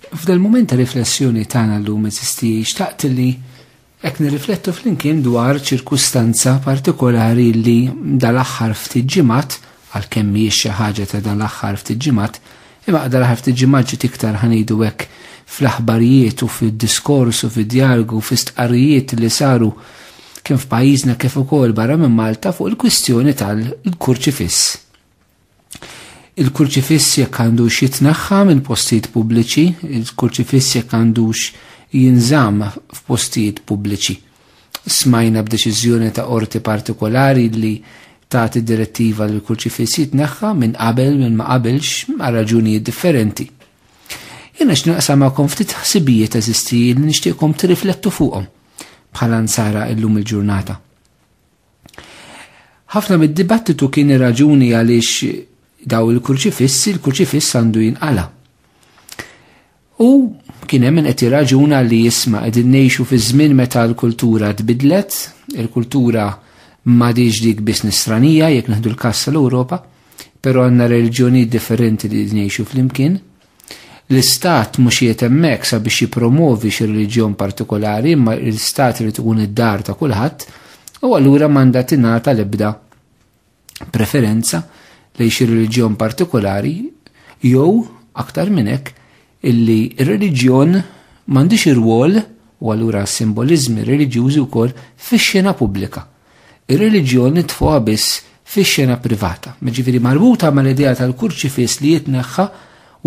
F'dal mument ta' riflessjoni tagħna llum eżisti xtaqt li qed nirriflettu flimkien dwar ċirkustanza partikolari li dal-aħħar ftit ġimgħat għalkemm mhijiex xi ħaġa ta' dal-aħħar ftit ġimgħat, imma qadar aħħar ftit ġimgħat ġiet iktar ħanidu hekk fl-aħbarijiet u fid-diskors u fid-djargu u fi stqarrijiet li saru kien f'pajjiżna kif ukoll barra minn Malta fuq il-kwistjoni tal-kurċifiss. Il-kurċifiss jekk għandux jitneħħa minn postijiet pubbliċi, il-kurċifiss jekk għandux jinżamm f'postijiet pubbliċi. Smajna b'deċiżjoni ta' qorti partikolari li tagħti direttiva li l-kurċifiss jitneħħa minn qabel minn ma qabilx għal raġunijiet differenti. Jiena x'naqsam magħkom ftit ħsibijiet eżisti li nixtieqkom tirriflettu fuqhom bħala nsara illum il-ġurnata. Ħafna mid-dibattitu kien ir-raġuni għaliex daw il-kurċifissi, il-kurċifiss għandu jinqala. U kien hemm qed jirraġuna li jisma' qegħdin ngħixu fi żmien meta l-kultura tbidlet, il-kultura m'għadix dik biss nisranija jekk neħdu l-każ tal-Ewropa, però għandna reliġjoni differenti li ngħixu flimkien, L-istat mhux qiegħed hemmhekk sabiex jippromovi xi reliġjon partikolari, imma l-istat irid ikun id-dar ta' kulħadd, u allura m'għandha tingħata l-ebda preferenza lejn xi reliġjon partikolari jew aktar minn hekk illi r-reliġjon m'għandix irwol u allura s-simboliżmi reliġjużi wkoll fix-xena pubblika. Ir-reliġjon nitfuha biss fix-xena privata, jiġifieri marbuta mal-idea tal-kurċifiss li jitneħħa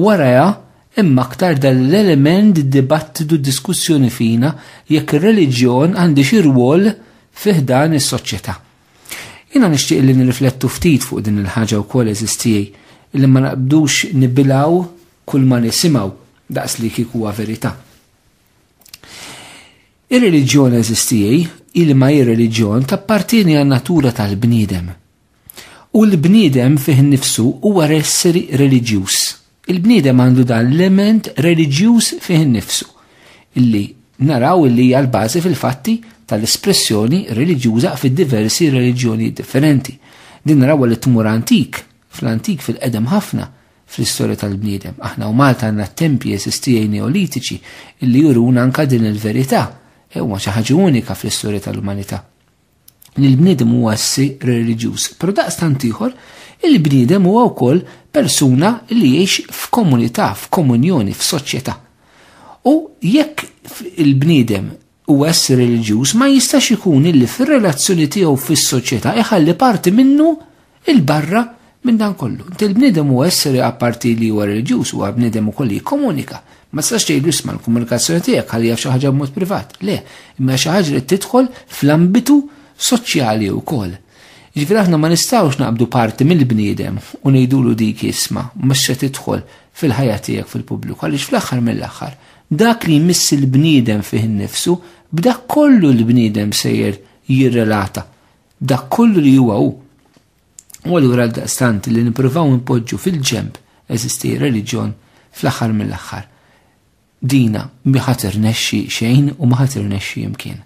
warajha hemm aktar dan l-element dibattitu diskussjoni fina jekk ir-reliġjon għandix irwol fi ħdan is-soċjetà. Jiena nixtieq li nirriflettu ftit fuq din il-ħaġa wkoll eżiż tiegħi li ma naqbdux nibilaw kull ma nisimgħu daqs li kieku huwa verità. Ir-reliġjon eżistijie hi li ma ir-reliġjon tappartieni għan-natura tal-bniedem. U l-bniedem fih innifsu huwa esseri reliġjuż. Il-bniedem għandu dan l-element reliġjuż fih innifsu, illi naraw illi hija l-bażi fil-fatti tal-espressjoni reliġjuża fid-diversi reliġjonijiet differenti. Din naraw li tmur antik, fl-antik fil-qedem ħafna, fl-istorja tal-bniedem. Aħna u Malta għandna tempji esistijaj neolitiċi illi juruna anka din il-verità. E huma xi ħaġa unika fl-istorja tal-umanità. Li l-bniedem huwa ssi reliġjuż, però daqstant ieħor il-bniedem huwa wkoll persuna li jgħix f'komunità, f'komunjoni, f'soċjetà. U jekk il-bniedem u essri reliġjuż ma jistax ikun illi fir-relazzjoni tiegħu fis-soċjetà iħalli parti minnu il barra minn dan kollu. Inti l-bniedem huwa essri apparti li huwa reliġjuż huwa bniedem ukoll li jikkomunika. Ma tistax tgħidlu isma' l-komunikazzjoni tiegħek ħalli jaf xi ħaġa b'mod privat. Le, imma xi ħaġa li tidħol fl-ambitu soċjali wkoll. Ġifieri aħna ma nistgħux naqbdu parti mill-bniedem u ngħidulu dik isma' mhux se tidħol fil-ħajja tiegħek fil-pubbliku għaliex fl-aħħar mill-aħħar Dak li jmiss il-bniedem fih innifsu, b'dak kollu l-bniedem sejjer jirrelata, b'dak kollu li huwa hu. U allura għal daqstant li nippruvaw npoġġu fil-ġemp eżisti reliġjon fl-aħħar mill-aħħar. Dina mi ħadd irnexxi xejn u ma ħadd irnexxi imkien.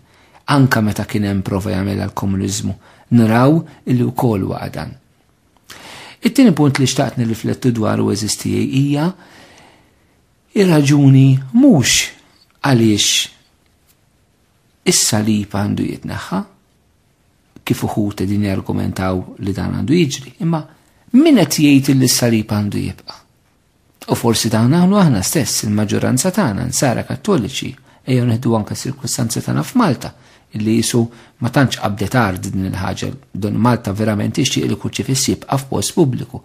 Anka meta kien hemm prova jagħmilha l-komuniżmu, naraw illi wkoll waqa' dan. It-tieni punt li xtaqt nirriflettu dwaru eżistijaj hija Ir-raġuni mhux għaliex is-salib għandu jitneħħa, kif uħut din jargumentaw li dan għandu jiġri, imma min qed jgħid li s-salib għandu jibqa'. U forsi dawn għamlu aħna stess il-maġġoranza tagħna nsara kattoliċi ejjew neħdu anke s-sirkustanzi tagħna f'Malta illi jisu ma tantx qabdet ard din il-ħaġa don Malta verament ixtieq li kuċċifissi jibqa' f'post pubbliku.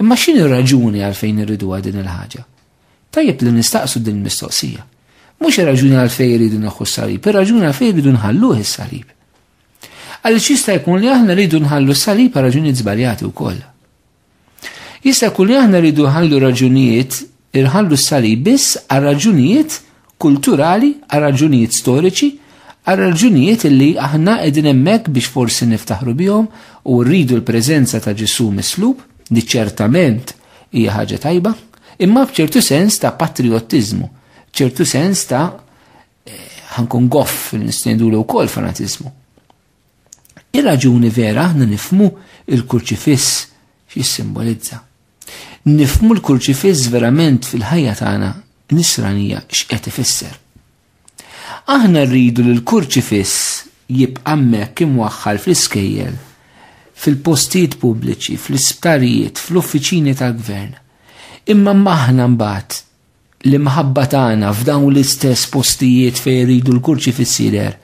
Imma x'inhi raġuni għalfejn irridu din il-ħaġa? Tajjeb li nistaqsu din mistoqsija. Mhux ir-raġuni għalfejn iridu neħu s-salib, ir-raġuni għalfejn iridu nħalluh is-salib. Għaliex jista' jkun li aħna rridu nħallu s-salib għal raġunijiet żbaljati wkoll. Jista' jkun li aħna rridu nħallu raġunijiet irħallu s-salib biss għal raġunijiet kulturali, għal raġunijiet storiċi, għal raġunijiet li aħna qegħdin hemmhekk biex forsi niftaħru bihom u rridu l-preżenza ta' Ġesu mislub li ċertament hija ħaġa tajba, imma b'ċertu sens ta' patriottiżmu, ċertu sens ta' eh, ħankun goff li nistendulu wkoll fanatiżmu. Ir-raġuni vera aħna nifmu il-kurċifiss x'jissimbolizza. Nifmu l-kurċifiss verament fil-ħajja tagħna nisranija x'qed ifisser. Aħna rridu li l-kurċifiss jibqa' hemmhekk imwaħħal fl-iskejjel, fil-postijiet pubbliċi, fl-isptarijiet, fl-uffiċini tal-gvern. Imma maħna mbagħad l-imħabba tagħna f'dawn l-istess postijiet fejn iridu l-kurċi fis-sider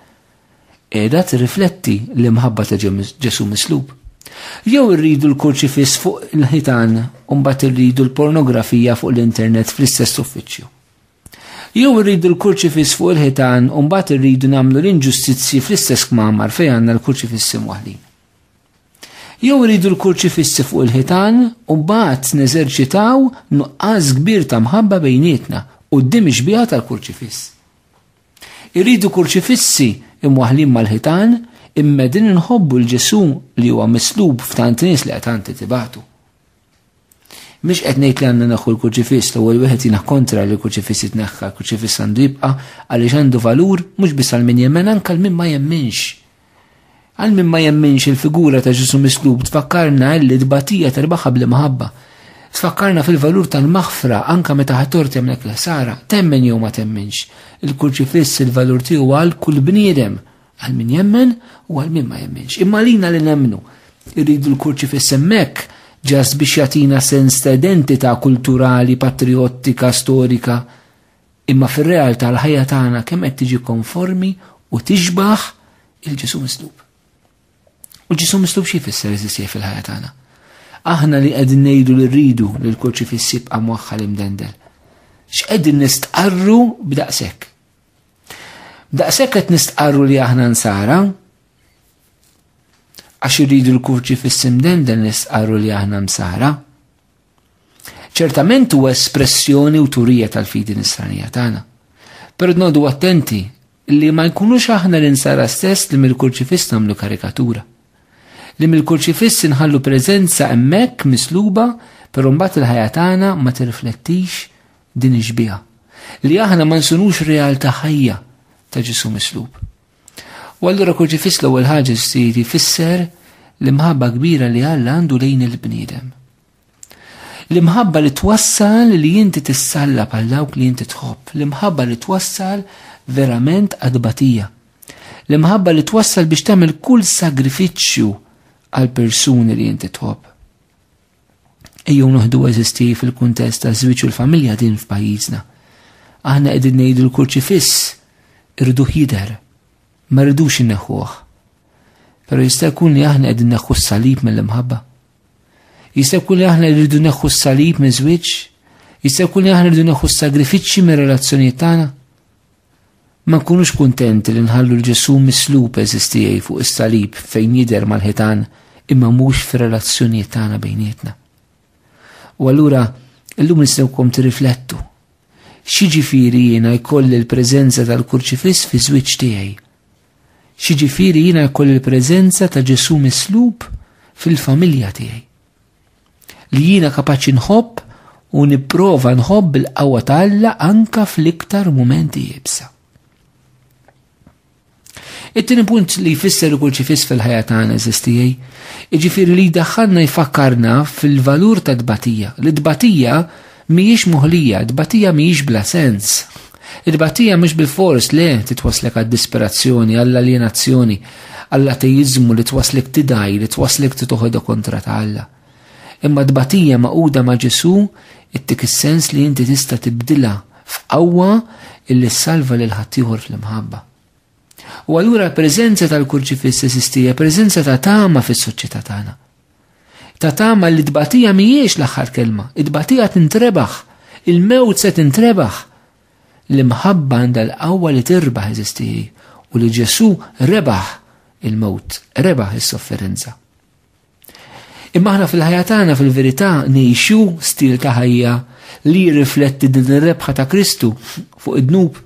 qiegħda tirrifletti l-imħabba ta' Ġesù mislub. Jew irridu l-kurċifiss fuq il-ħitan u mbagħad irridu l-pornografija fuq l-internet fl-istess uffiċċju. Jew irridu l-kurċifiss fuq il-ħitan u mbagħad irridu nagħmlu l-inġustizzji fl-istess kmamar fejn għandna l-kurċifiss imwaħlin. Jew iridu l-kurċifissi fuq il-ħitan u mbagħad neżerċitaw nuqqas kbir ta' mħabba bejnietna quddiem ix-xbieha tal-kurċifiss. Irridu kurċifissi imwaħlin mal-ħitan immedin inħobbu l-Ġesu li huwa mislub f'tant nies li qed tibatu. Mhux qed ngħid li għandna naħu l-kurċifiss l-ewwel wieħed jiena kontra li l-kurċifiss jitneħħa, l-kurċifiss għandu jibqa' għaliex għandu valur mhux biss għal min jemmen anke għal min ma jemminx. Għal min ma jemminx il-figura ta' Ġesu mislub tfakkarna li d-batija terbaħa bl maħabba. Tfakkarna fil-valur tal-maħfra anka meta ħator temlek l-ħsara, temmen jew ma temminx. Il-kurċifiss il-valur tiegħu għal kull bniedem Għal min jemmen u għal min ma jemmenx. Imma lina li nemmnu. Irridu l-kurċi fissemmek ġas biex jatina sens ta' identità kulturali, patriottika, storika. Imma fir-realtà l-ħajja tagħna kemm qed tiġi konformi u tixbaħ il-ġisum mislub. U ġisum mislub xi jfisser iżis fil-ħajja tagħna. Aħna li qegħdin ngħidu li rridu li l-kurċi fissib qamwaħħal imdendel. X'qegħdin nistqarru b'daqshekk? Daqshekk qed nistqarru li aħna nsara, għax irridu l-kurċi fis-simden dan nistqarru li aħna msara. Ċertament huwa espressjoni u turija tal-fidi nisranija tagħna. Però nodu attenti li ma jkunux aħna l-insara stess li mill-kurċifiss nagħmlu karikatura. Li mill-kurċifiss inħallu preżenza hemmhekk misluba, però mbagħad il-ħajja tagħna ma tirriflettix Din ix-xbieha, li aħna ma nsunux realtà ħajja ta' Ġesù mislub. U allura kurċifiss l-ewwel ħaġa ġdid jfisser l-imħabba kbira li Alla għandu lejn il-bniedem. L-imħabba li twassal li inti tissalla bħal dawk li inti tħobb, l-imħabba li twassal verament għadbatija. L-imħabba li twassal biex tagħmel kull sagrifiċċju għal persuni li inti tħobb. Ejjew noħdu eżisti fil-kuntest ta' żwieġ u l-familja din f'pajjiżna. Aħna qegħdin ngħidu l-kurċifiss irridu jidher, ma rridux inneħħuh. Pero jista' jkun li aħna qegħdin neħħu s-salib mill-imħabba. Jista' jkun li aħna rridu neħħu s-salib minn żwieġ, jista' jkun li aħna rridu neħħu s-sagrifiċċji mir-relazzjonijiet tagħna. Ma nkunux kuntenti li nħallu 'l Ġesù mislub għeżież tiegħi fuq is-salib fejn jidher mal-ħitan imma mhux fir-relazzjonijiet tagħna bejnietna. U allura illum nistgħukom tirriflettu. X'jiġifieri jiena jkolli l-preżenza tal-kurċifiss fi żwieġ tiegħi? X'jiġifieri jiena jkolli l-preżenza ta' Ġesù mislub fil-familja tiegħi? Li jiena kapaċi nħobb u nipprova nħobb il-qawwa ta' Alla anka fl-iktar mumenti jibsa. It-tieni punt li jfisser ikun ċifis fil-ħajja tagħna eżistijaj, jiġifieri li jdaħħalna jfakkarna fil-valur ta' tbatija. Li tbatija Mhijiex moħlija, tbatija mhijiex bla sens. It-tbatija mhux bilfors le titwaslek għad-disperazzjoni, għall-aljenazzjoni, għall-ateiżmu li twaslek tidgħi, li twaslek titoħodha kontra ta' Alla. Imma tbatija maquda ma' Ġesu ittik is-sens li inti tista' tibdilha f'qawwa illi ssalva lil ħaddieħor fl-imħabba. U allura l-preżenza tal-kurċifiss esistija, preżenza ta' tama fis-soċjetà tagħna. Ta' tama li tbatija mhijiex l-aħħar kelma, it-tbatija tintrebaħ, il-mewt se tintrebaħ. L-imħabba għandha l-qawwa li tirbaħ eżistiji u li Ġesu rebaħ il-mewt, rebaħ is-sofferenza. Imma aħna fil-ħajja tagħna fil-verità ngħixu stil ta' ħajja li jirrifletti din ir-rebħa ta' Kristu fuq id-dnub,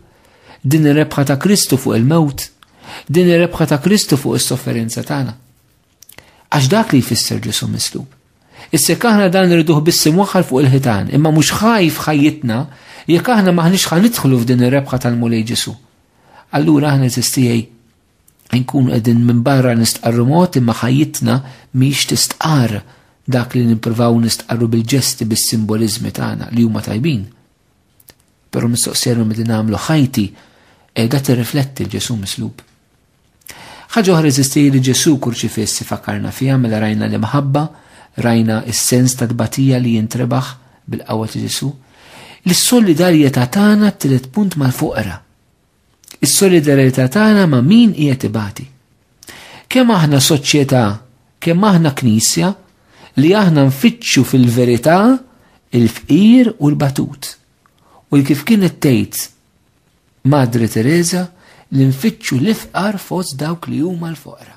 din ir-rebħa ta' Kristu fuq il-mewt, din ir-rebħa ta' Kristu fuq is-sofferenza tagħna. Għax dak li jfisser Ġesu mislub. Issek aħna dan irriduh biss imwaħħal fuq il-ħitan, imma mhux ħajf ħajjitna jekk aħna maħniex ħanidħlu f'din ir-rebħa tal-Mulej Ġesu. Allura aħna eżistijaj nkun qegħdin minn barra nistqarru mod imma ħajjitna miex tistqar dak li nippruvaw nistqarru bil-ġesti bis-simboliżmi tagħna li huma tajbin. Però mistoqsija li nagħmlu ħajti qiegħda tirrifletti Ġesu mislub. Ħaġa oħra eżisti li Ġesu kurċifiss ifakkarna fiha mela rajna l-imħabba, rajna s-sens ta' tbatija li jintrebaħ bil-qawwa ta' Ġesu. L-solidarjetà tagħna t-tielet punt mal-foqra. Is-solidarjetà tagħna ma' min qiegħed ibati. Kemm aħna soċjetà, kemm aħna knisja li aħna nfittxu fil-verità il-fqir u l-batut. U kif kienet tgħid Madre Teresa li nfittxu l-ifqar fost dawk li huma l-foqra.